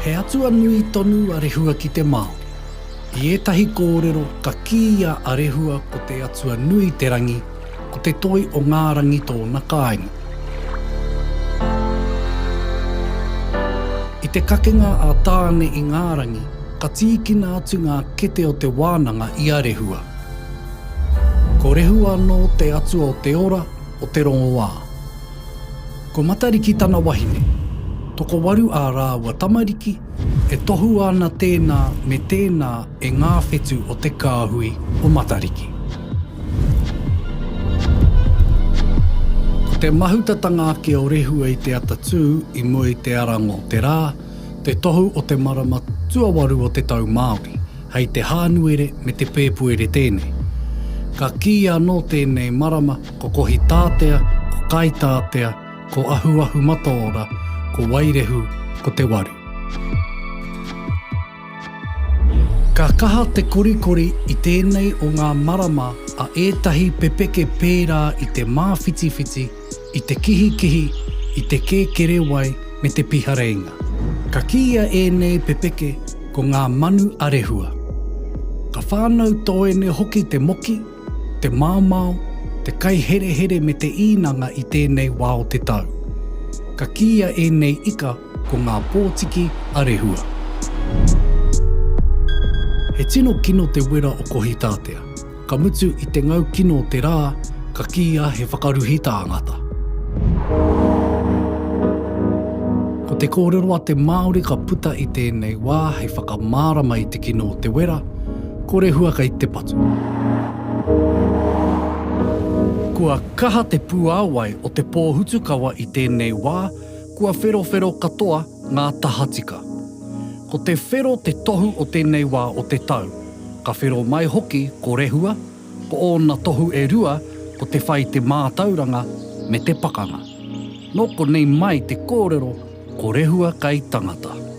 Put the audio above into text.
He atua nui tonu a Rehua ki te Māori. I ētahi kōrero ka kīia a Rehua ko te atua nui te rangi Ko te toi o ngā rangi tōna kāinga. I te kakenga a Tāne i ngā rangi, ka tīkina atu ngā kete o te wānanga i a Rehua. Ko Rehua anō te atua o te ora, o te rongoā. Ko Matariki tana wahine. Tokowaru ā rāua tamariki, e tohua ana tēnā me tēnā e ngā whetu o te kāhui o Matariki. Ko te mahutatanga ake o Rehua i te atatū i mua i te arango o te rā, te tohu o te marama tuawaru o te tau Māori, hei te Hānuere me te Pēpuere tēnei. Ka kīia anō tēnei marama ko Kohitātea, ko Kaitātea, ko Ahuahumataora, ko Wairehu, ko Te Waru. Ka kaha te korikori i tēnei o ngā marama a ētahi pepeke pērā i te māwhitiwhiti, i te kihikihi, i te kēkerewai me te pihareinga. Ka kīia ēnei pepeke ko ngā manu a Rehua. Ka whānau toene hoki te moki, te maomao, te kaiherehere me te īnanga i tēnei wā o te tau. Ka kīia ēnei ika Ko ngā pōtiki a Rehua. He tino kino te wera o Kohitātea. Ka mutu i te ngau kino o te rā, ka kīia he whakaruhi tāngata. Ko te kōrero a te Māori ka puta i tēnei wā hei whakamārama i te kino o te wera, ko Rehua kei te patu. Kua kaha te puāwai o te pōhutukawa i tēnei wā, Kua wherowhero katoa ngā tahatika. Ko te whero te tohu o tēnei wā o te tau. Ka whero mai hoki ko Rehua, ko ōna tohu e rua ko te whai te mātauranga me te pakanga. Nō konei mai te kōrero ko Rehua kai tangata.